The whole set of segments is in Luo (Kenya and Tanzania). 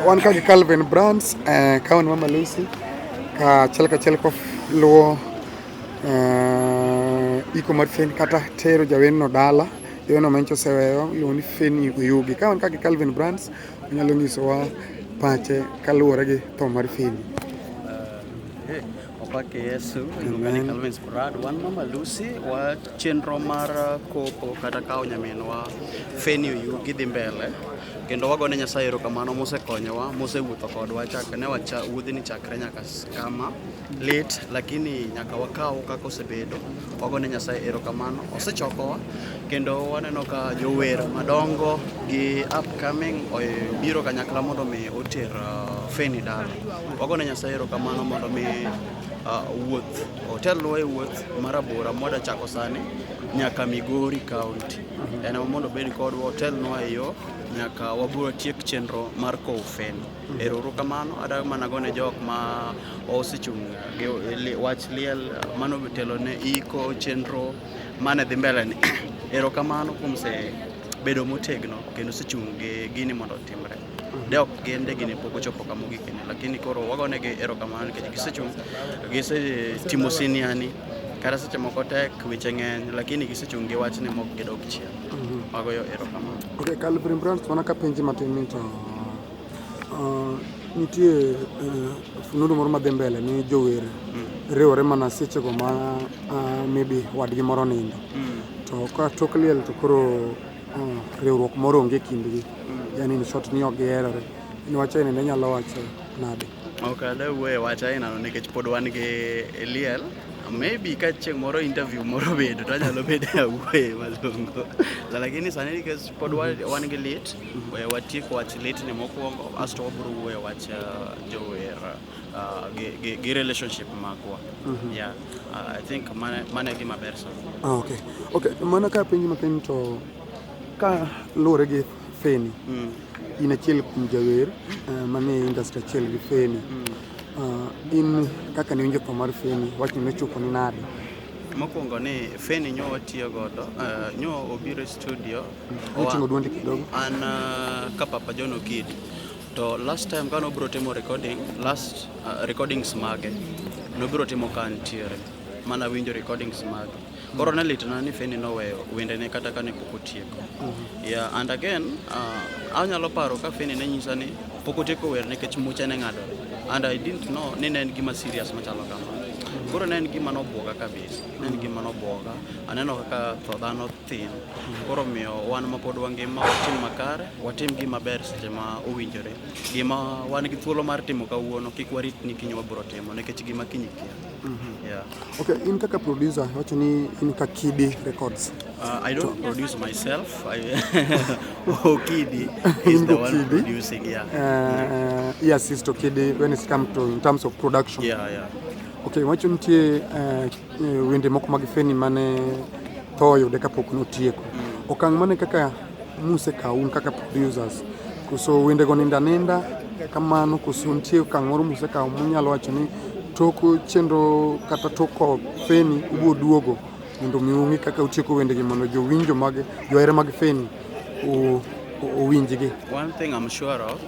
Wan ka gi Calvin Brands, eh, ka wan Mama Lucy, ka achiel ka achiel luwo eh, iko mar Feni kata tero jawenno dala jawenno manyicha oseweyo iluongo ni Feni Oyugi. Ka wan ka gi Calvin Brands, onyalo nyisowa pache kaluwore gi tho mar Feni. Opake Yesu iluongani Calvin Sprad wan mama Lucy wa chenro mar kopo kata kawo nyaminwa Feni Oyugi dhi mbele kendo wagone Nyasaye erokamano mosekonyowa mosewuotho kodwa chakre ne wacha wuodhini chakre nyaka kama lit lakini nyaka wakaw kaka osebedo Wagone Nyasaye erokamano, osechokowa kendo waneno ka jower madongo gi upcoming biro kanyakla mondo mi oter uh, Feni dala. Wagone Nyasaye erokamano mondo mi uh, wuoth otelnwa e wuoth mar abora mwada chako sani nyaka Migori County. En mondo obed kodwa otelnwa e yo nyaka wabiro tiek chenro mar kowo Feni. Eruru kamano adagi mana gone jok ma osechung' gi wach liel mano telo ne iko chenro mane dhi mbele ni erokamano kuom se bedo motegno kendo sechung' gi gini mondo otimre de ok gin de gini pok ochopo kama ogikeni lakini koro wagonegi erokamano nikech gisechung' gisetimo siniani kata seche moko tek weche ng'eny lakini gisechung' gi wachni mok gidog chien mhm. wagoyo erokamano okay, Calvin Brands mana ka penji matin ni to Uh, nitie uh, fununu moro madhi mbele ni jower mm. riwore mana sechego ma uh, maybe wadgi moro nindo mm. to ka tok liel to koro uh, riwruok moro onge kindgi mm. yani ni short ni ok giherore ni wach aina ne nyalo wacho nade ok ade wuoye wach ainano nikech pod wan gi liel maybe ka chieng' moro interview moro bedo to anyalo bedo awuoye malongo lakini sani nikech pod wan gi lit Eh, watieko wach litni mokwongo asto wabiro wuoyo wach eh, jower eh, gi relationship magwa mhm. yeah i think mano e gima ber sana ah, okay okay mana ka penji matin to ka luwore gi feni mm. in achiel kuom jawer manie industry achiel gi feni mm. ah, in kaka niwinjo tho mar feni wachni nochopo ni nade mokwongo ni feni nyo watiyo godo uh, nyo obiro e studio Oting'o dwondi kidogo. An uh, ka Papa John Okidi to last time kane obiro timo recording last uh, recordings mage nobiro timo ka ntiere mana winjo recordings mage koro ne litna ni Feni noweyo wendene kata kane pok otieko mm-hmm. yeah, and again uh, anyalo paro ka Feni ne nyisa ni pok otieko wer nikech muche ne ng'adore and I didn't know ni ne en gima serious machalo kamano koro ne en gima nobwoga kabisa ne en gima nobwoga aneno kaka tho dhano thin koro miyo wan ma pod wangima watim makare watim gima ber seche ma owinjore gima wan gi thuolo mar timo kawuono kik warit ni kiny wabiro timo nikech gima kiny kia mhm. yeah. okay, in kaka producer wacho ni in ka kidi records uh, i don't to... produce myself I... okidi is the one kidi. producing yeah. Uh, uh, yes is to kidi when it comes to in terms of production yeah, yeah. okay wacho nitie uh, Eh, wende moko mag Feni mane tho oyude kapok notieko. Mm. Okang' mane kaka muse kaun kaka producers koso wendego ninda ninda kamano koso nitie okang' moro muse kawo munyalo wacho ni tok chenro kata tok Feni ubiro duogo mondo mi ung'e kaka utieko wendegi mondo jowinjo mag johera mag Feni owinjgi. One thing I'm sure of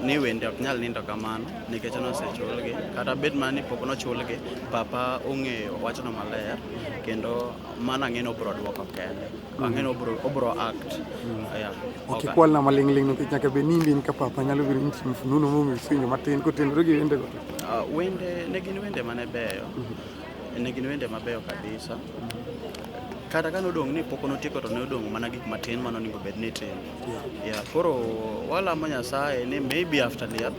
ni wende ok nyal nindo kamano. nikech nosechulgi kata bed mana ni pok nochulgi papa ong'eyo wachno maler kendo mano ang'e ni obro dwoko kende ang'e ni obro, obro act mm. yeah. ok ikwal na maling'ling nikech nyaka bed ni imbi in ka papa nyalo biro nyiso mfununo momiyo isinjo matin kotenore gi wendego uh, wende ne gin wende mane beyo mm -hmm. ne gin wende mabeyo kabisa mm -hmm kata ka nodong' ni pok notieko to ne odong' mana gik matin ma nonego bed ni timo yeah. yeah. koro walamo nyasaye ni maybe after liel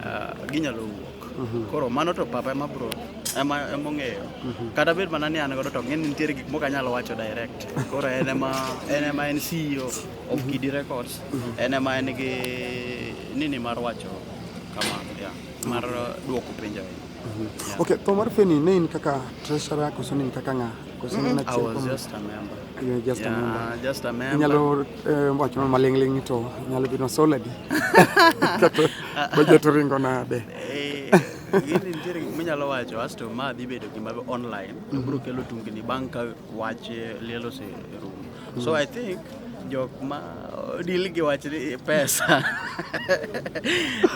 uh, ginyalo wuok mhm. koro mano to papa ema bro ema emong'eyo mhm. kata bed mana ni an godo to ng'e ni nitiere gik moko anyalo wacho direct koro en ema en ema en CEO of mhm. Kidi Records en ema en gi nini mar wacho kama yeah, mar duoko penjo Okay, to mar Feni ne in kaka treasurer koso ne in kaka ng'a? inyalo eh, wacho ma malingling to inyalo bino soladi kato bajet ringo nade eh, gini nitiere gik minyalo wacho asto ma dhi bedo gima online to biro kelo tungni bang' ka wach liel oserumo so i think jok ma deal gi wach pesa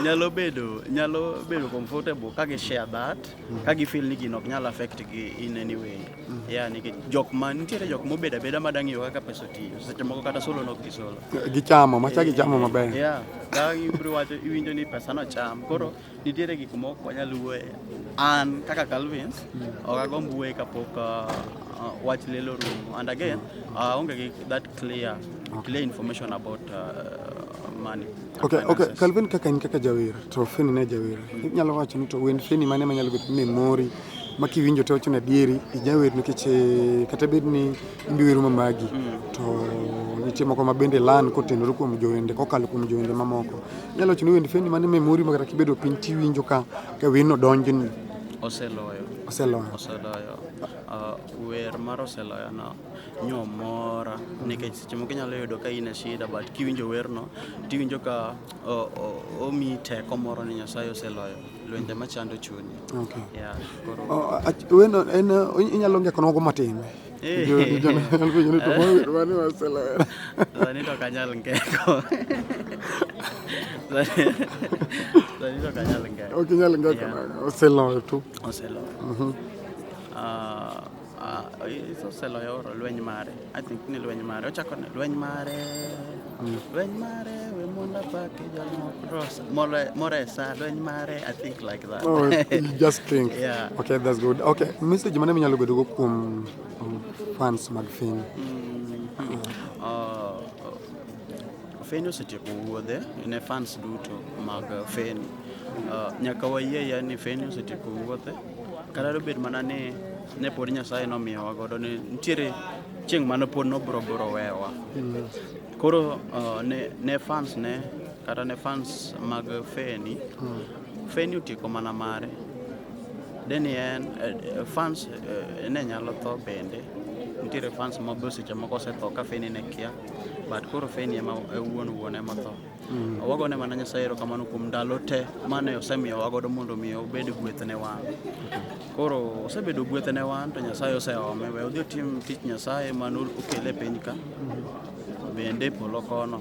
nyalo bedo nyalo bedo comfortable ka gi share that ka gi feel ni gino ok nyal affect gi in any way mm. yeah ni jok ma nitiere jok mobed abeda ma dang' yo kaka pesa otiyo seche moko kata solo nok gi solo gichamo macha gichamo maber yeah ka ibro wacho iwinjo ni pesa no cham koro nitiere gik moko wanyal wuoye an kaka Calvins mm. ok agomb wuoye kapok uh, uh, wach lelo rumo and again mm. uh, aonge gi that clear clear information about uh, Okay, okay. Calvin kaka in kaka jawer to Feni ne jawer. Inyalo wacho ni to wend Feni mane manyalo bedo ni mori ma kiwinjo to wacho ni adieri ijawer nikech eh, kata bed ni imbi wero ma magi mm. to nitie moko ma bende lan kotenore kuom jowende kokalo kuom jowende mamoko. Inyalo wacho ni wend Feni mane me mori ma kata kibedo piny tiwinjo ka ka wino donjni. Oseloyo. Oseloyo. Oseloyo. Uh, wer mar oseloyo no nyo mora nikech seche moko inyalo yudo ka in e shida but kiwinjo werno tiwinjo ka omi teko moro ni Nyasaye oseloyo lwenje machando chunyi. Okay. Yeah, koro... wendo en inyalo ngeko nogo matin. Eh. Sani to kanyal ngeko. Sani to kanyal ngeko. Ok inyal ngeko. Oseloyo tu. Oseloyo. Mhm. Ah, Ah, iseloyo oro lweny mare i think ni lweny mare ochako ne lweny mare mm. lweny mare we monda pake jalmokros moresa lweny mare i think like that oh, you just think yeah. okay that's good okay message mane minyalo bedogo kuom um, fans mag fin mm. mm. uh, Feni osetieko wuodhe ne fans duto mag Feni. Uh, nyaka wayie ya ni Feni osetieko wuodhe. Kata dobed mana ni ne pod Nyasaye nomiyowa godo ni nitiere chieng' mane pod nobro bro wewa. Koro uh, ne, ne fans ne kata ne fans mag Feni, Feni otieko mana mare. Deni en eh, fans eh, ne nyalo tho bende. Nitiere fans ma be seche moko osetho ka Feni ne kia, but koro Feni ema e wuon wuon ema tho. Mm. Wago ne mana Nyasaye erokamano kuom ndalo te mane osemiyowa godo mondo omi obed gweth ne wan. Koro osebedo gweth ne wan to Nyasaye oseome we odhi otim tich Nyasaye mane okele e piny ka mm-hmm. bende e polo kono.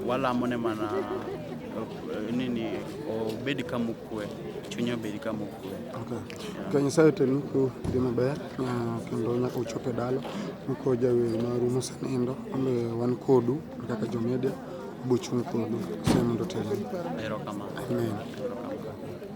Walamo ne mana eh, nini obed kama okwe, chunye obed kama okwe. Ka Nyasaye otelnu ku dhi maber ah, kendo nyaka uchop e dala mko jawer maru mosenindo wan kodu kaka jomedia. bochung' kodu semondo otelnu. Amen.